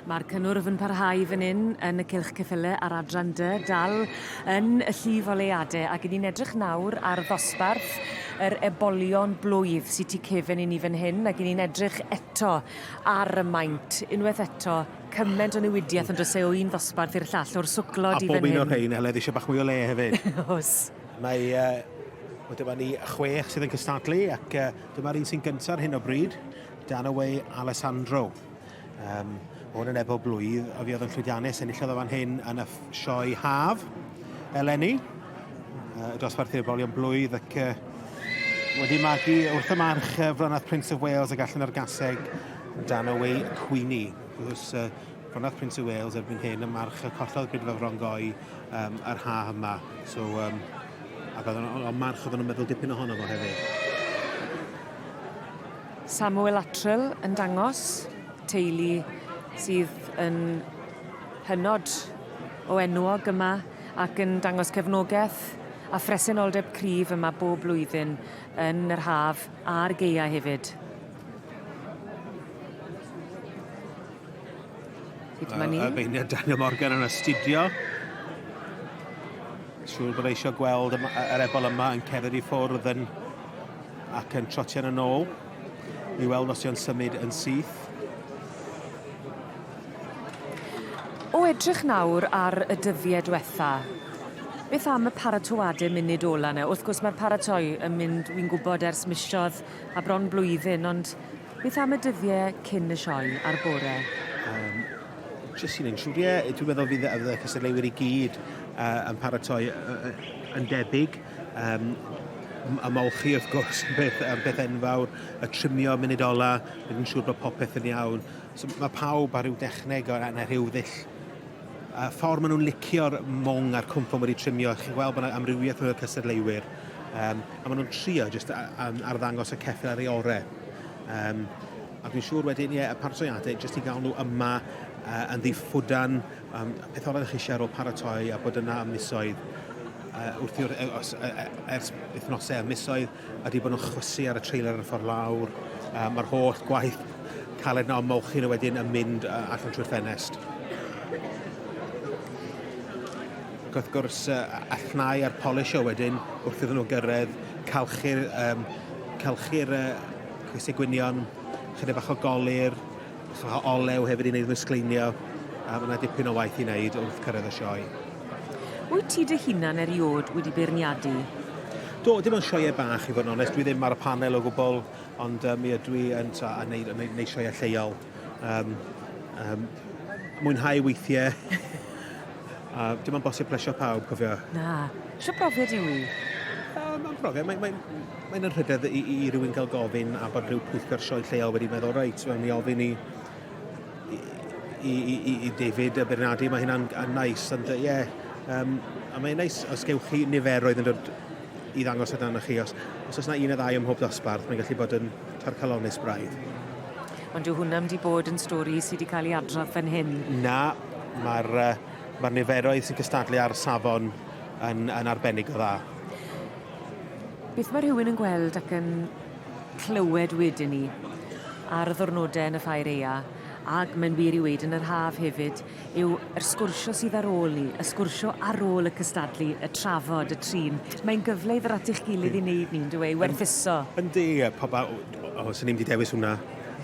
Mae'r cynnwrf yn parhau fan hyn yn y cylch ceffyle ar adran dy, dal yn y llif o leade ac ni'n edrych nawr ar ddosbarth yr ebolion blwydd sy'n tu cefen i ni fan hyn ac ni'n edrych eto ar y maint unwaith eto cyment o newidiaeth yn dros e o un ddosbarth i'r llall o'r swclod i fan hyn. A bob un o'r rhain Eled eisiau bach mwy o le hefyd. Os. Mae uh, Wel, dyma ni chwech sydd yn cystadlu ac uh, dyma'r un sy'n gyntaf ar hyn o bryd, Dan Away Alessandro. Um, hwn yn ebo blwydd, a fi oedd yn llwyddiannus enillodd o fan hyn yn y sioe haf eleni. Uh, dosbarth i'r bolion blwydd ac uh, wedi magu wrth y march uh, Fronath Prince of Wales y gallen ar gaseg dan y wei Cwini. Gwrs, uh, Fronath Prince of Wales erbyn hyn y march y collodd Brydfa Frongoy um, yr ha yma. So, um, ac oedd o'n march oedd o'n meddwl dipyn ohono fo hefyd. Samuel Luttrell yn dangos teulu sydd yn hynod o enwog yma ac yn dangos cefnogaeth a phresenoldeb cryf yma bob blwyddyn yn yr haf a'r gaeau hefyd. Sut mae ni? Arweinydd Daniel Morgan yn astudio. Siŵr bod eisiau gweld yr ebol yma yn cerdded i ffwrdd yn Ac yn trotian yn ôl i weld os yw'n symud yn syth. O edrych nawr ar y dyddie dwetha, beth am y paratoade munud ola 'na? Wrth gwrs mae'r paratoi yn mynd, wi'n gwybod, ers misodd a bron blwyddyn, ond beth am y dyddie cyn y sioe a'r bore? Um, jyst un insiwr, ie, dwi'n meddwl fydd y cystadleuwyr i gyd uh, yn paratoi uh, yn debyg. Um, a molchi wrth gwrs yn beth, yn beth enfawr, y trimio munud ola, yn siŵr bod popeth yn iawn. So, mae pawb ar ryw dechneg o ran rhyw ddill a ffordd maen nhw'n licio'r mong a'r cwmffon wedi trimio, chi'n gweld bod yna amrywiaeth o'r cystadleuwyr, um, a maen nhw'n trio jyst arddangos y ceffil ar ei orau. Um, a dwi'n siŵr wedyn, ie, y parsoniadau, jyst i gael nhw yma uh, yn ddiffwdan, Um, peth o'r chi eisiau ar ôl paratoi a bod yna am misoedd uh, wrth i'r, e, os, uh, ers wythnosau a misoedd a wedi bod yn chwysu ar y trailer ar y ffordd lawr. Uh, Mae'r holl gwaith caled na ymolchi nhw wedyn yn mynd uh, allan trwy'r ffenest. Ac wrth gwrs, uh, allnau a'r polisio wedyn wrth iddyn nhw gyrraedd, calchu'r, um, calchu'r uh, cwysau gwynion, chyda bach o golir, Chwarae olew hefyd i wneud fy sgleinio, a mae yna dipyn o waith i wneud wrth cyrraedd y sioe. Wyt ti dy hunan eriod wedi beirniadu? Do, dim ond sioeau bach i fod yn onest, dwi ddim ar y panel o gwbl, ond um, mi ydw i yn ta, a neud, neud, neud sioeau lleol. Um, um, mwynhau weithiau. A dim ond bosib plesio pawb, cofio. Na. Sio profiad yw i? Um, mae'n profiad. Mae'n mae, mae yna rhydedd i, i, i rywun gael gofyn a bod rhyw pwyllgor sioe lleol wedi meddwl, reit, mae'n mi ofyn i, i, i, i, i David y Bernardi, mae hynna'n nais, ond ie, yeah, um, a mae'n nais os gewch chi niferoedd yn dod i ddangos y dan chi, os, os oes yna un neu ddau ym mhob dosbarth, mae'n gallu bod yn tarcalonus braidd. Ond dyw hwnna 'im 'di bod yn stori sy 'di ca'l 'i adrodd fan hyn. Na, ma'r yy ma'r niferoedd sy'n cystadlu ar safon yn yn arbennig o dda. Beth ma' rhywun yn gweld ac yn clywed wedyn 'ny ar y ddwrnode yn y Ffair Aea ag mae'n wir i weud yn yr haf hefyd yw yr sgwrsio sydd ar ôl 'ny, y sgwrsio ar ôl y cystadlu, y trafod, y trin. Mae'n gyfle i ddod at eich gilydd i neud 'ny on'd yw e? I werthuso. Yndi a pob a- w- O, os o'n i'n mynd i dewis hwnna,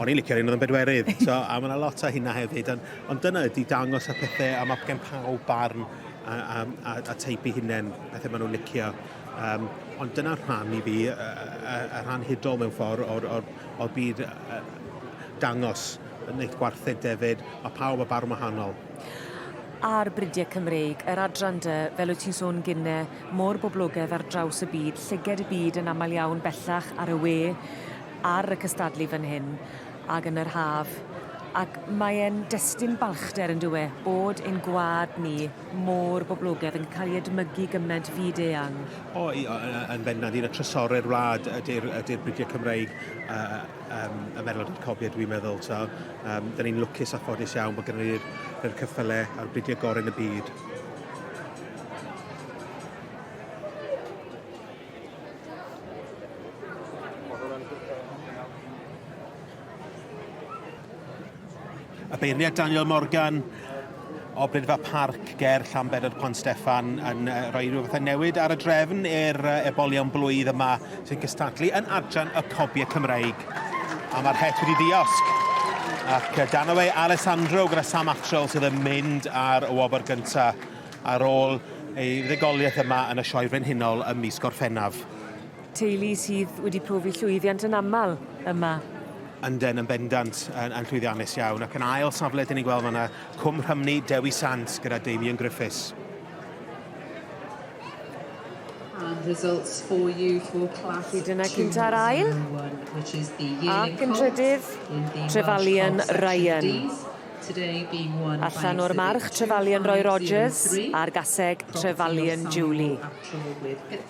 o'n i'n licio'r un oedd yn bedwerydd. So, a mae yna lot o hynna hefyd. Ond, ond dyna ydy dangos y pethau, a mae gen pawb barn a, a, a, a teip i hunain, pethau maen nhw'n licio. Um, ond dyna rhan i fi, y, y, y rhan hudol mewn ffordd o'r, or, or byd uh, dangos wneud gwartheg defyd, mae pawb o barn wahanol. Ar bridiau Cymreig, yr adran dy, fel wyt ti'n sôn gynne, mor boblogedd ar draws y byd, llyged y byd yn aml iawn bellach ar y we, ar y cystadlu fan hyn, ac yn yr haf, ac mae e'n destun balchder yn dywe, bod ein gwlad ni mor boblogedd, yn cael ei edmygu gyment fyd eang. O, yn bendant, un o trysorau'r wlad ydy'r ydy'r bridiau Cymreig, a, um, ymerodraeth cofio, dwi'n meddwl. So, um, da ni'n lwcus a ffodus iawn bod gennym ni'r cyffylau a'r bridio gorau yn y byd. Y beirniad Daniel Morgan o Brydfa Parc ger Llanbedr Pont Steffan yn rhoi rhyw fath o newid ar y drefn i'r ebolion blwydd yma sy'n cystadlu yn adran y cobiau Cymreig. A mae'r het wedi ddiosg. Ac dan o fe Alessandro gyda Sam Atrell sydd yn mynd ar y wobr gyntaf ar ôl ei ddigoliaeth yma yn y Sioe Frenhinol ym mis Gorffennaf. Teulu sydd wedi profi llwyddiant yn aml yma. Ynden, yn bendant, yn, yn llwyddiannus iawn. Ac yn ail safle, dyn ni'n gweld fanna, Cwm Rhymni, Dewi Sant gyda Damien Griffiths. And results for you for class Felly dyna cynt ar ail. Ac yn trydydd, Trefalion Ryan. Allan o'r march, Trefalion Roy Rogers a'r gaseg Trefalion Julie.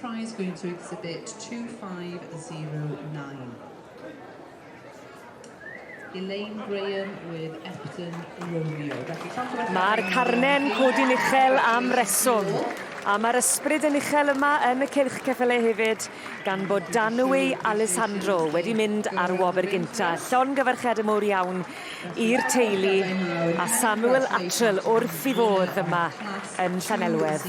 Prize going to exhibit 2509. Elaine Graham with Epton Romeo. Mae'r carnen codi'n uchel am reswm. A mae'r ysbryd yn uchel yma yn y cylch ceffylau hefyd, gan bod Danwy Alessandro wedi mynd ar wobr gynta. Llon gyfarchiad y mwr iawn i'r teulu a Samuel Atrell wrth i fodd yma yn Llanelwedd.